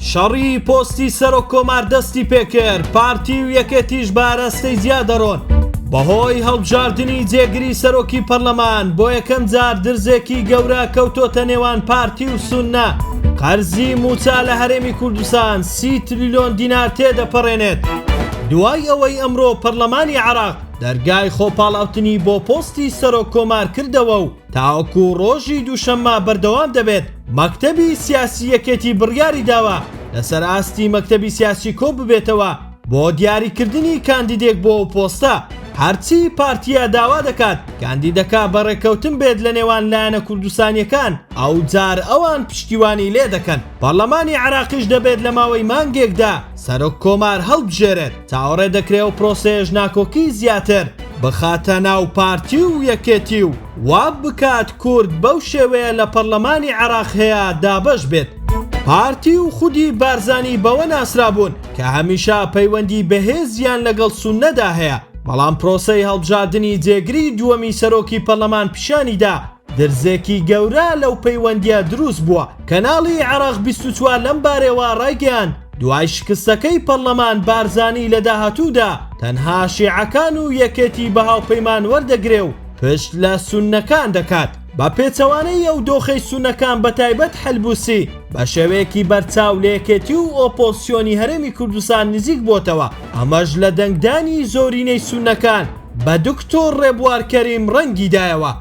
شەڕی پۆستی سەرۆک کۆمار دەستی پێکرد پارتی و یەکێتیش بارەستەی زیا دەڕۆن بەهۆی هەڵبژاردننی جێگری سەرۆکی پەرلەمان بۆ یەکەم جار درزێکی گەورە کەوتۆتە نێوان پارتی و سوننا قەرزی موچە لە هەرێمی کوردستان سی تریلیۆن دینار تێدەپەڕێنێت دوای ئەوەی ئەمڕۆ پەرلەمانی عراق دەرگای خۆپاڵاوتنی بۆ پۆستی سەرۆک کۆمار کردەوە و تاوەکو ڕۆژی دووشەممە بەردەوام دەبێت، مەکتەبی سیاسی یەکێتی بڕیاری داوە لەسەر ئاستی مەکتەبی سیاسی کۆ ببێتەوە بۆ دیاریکردنی کاندیدێک بۆ ئەو پۆستە، هەرچی پارتییە داوا دەکات کاندیدەکە بە ڕێککەوتن بێت لە نێوان لایەنە کوردستانییەکان ئەوجار ئەوان پشتیوانی لێدەکەن، پەڕلەمانی عێراقیش دەبێت لە ماوەی مانگێکدا سەرۆک کۆمار هەڵبژێرێت چاوەڕێ دەکرێ ئەو پرۆسەیەش ناکۆکی زیاتر بخاتە ناو پارتی و یەکێتی و وا بکات کورد بەو شێوەیە لە پەڕلەمانی عێراق هەیە دابەش بێت. پارتی و خودی بارزانی بەوە ناسرابوون کە هەمیشە پەیوەندی بەهێزیان لەگەڵ سوننەدا هەیە، بەڵام پرۆسەی هەڵبژاردنی جێگری دووەمی سەرۆکی پەڕلەمان پیشانی دا، درزێکی گەورە لەو پەیوەندییە دروست بووە. کەناڵی عەرەق بیست و چوار لەم بارەیەوە ڕایگەیاند، دوای شکستەکەی پەڕلەمان بارزانی لە داهاتوودا تەنها شێعەکان و یەکێتی بە هاوپەیمان وەردەگرێ و پشت لە سوننەکان دەکات. بە پێچەوانەی ئەو دۆخەی سوننەکان بە تایبەت حەلبوسی بە شێوەیەکی بەرچاو لە یەکێتی و ئۆپۆزسیۆنی هەرێمی کوردستان نزیک بۆتەوە، ئەمەش لە دەنگدانی زۆرینەی سوننەکان بە دکتۆر ڕێبوار کەریم ڕەنگی دایەوە.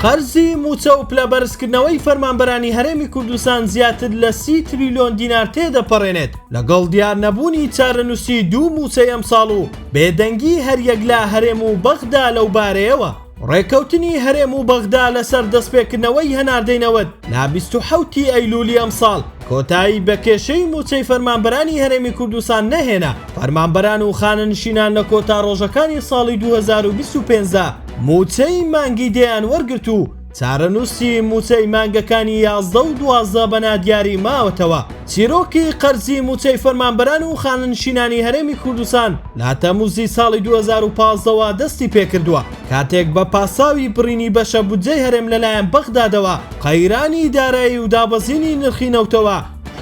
قەرزی مووچە و پلە بەرزکردنەوەی فەرمانبەرانی هەرێمی کوردستان زیاتر لە سی تریلیۆن دینار تێدەپەڕێنێت، لەگەڵ دیار نەبوونی چارەنووسی دوو مووچەی ئەمساڵ و بێدەنگی هەریەک لە هەرێم و بەغدا لەو بارەیەوە، ڕێککەوتنی هەرێم و بەغدا لەسەر دەستپێکردنەوەی هەناردەی نەوت لە بیست و حەوت ی ئەیلوولی ئەمساڵ، کۆتایی بە کێشەی مووچەی فەرمانبەرانی هەرێمی کوردستان نەهێنا، فەرمانبەران و خانەنشینان لە کۆتا ڕۆژەکانی ساڵی دوو هەزار و بیست و پێنج دا مووچەی مانگی دەیان وەرگرت و چارەنووسی مووچەی مانگەکانی یازدە و دوازدە بە نادیاری ماوەتەوە چیرۆکی قەرزی مووچەی فەرمانبەران و خانەنشینانی هەرێمی کوردستان لە تەمووزی ساڵی دوو هەزار و پازدە وە دەستی پێکردووە. کاتێک بە پاساوی بڕینی بەشە بودجەی هەرێم لەلایەن بەغدادەوە قەیرانی دارایی و دابەزینی نرخی نەوتەوە،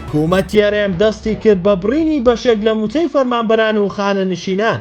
حکوومەتی هەرێم دەستی کرد بە بڕینی بەشێک لە مووچەی فەرمانبەران و خانەنشینان.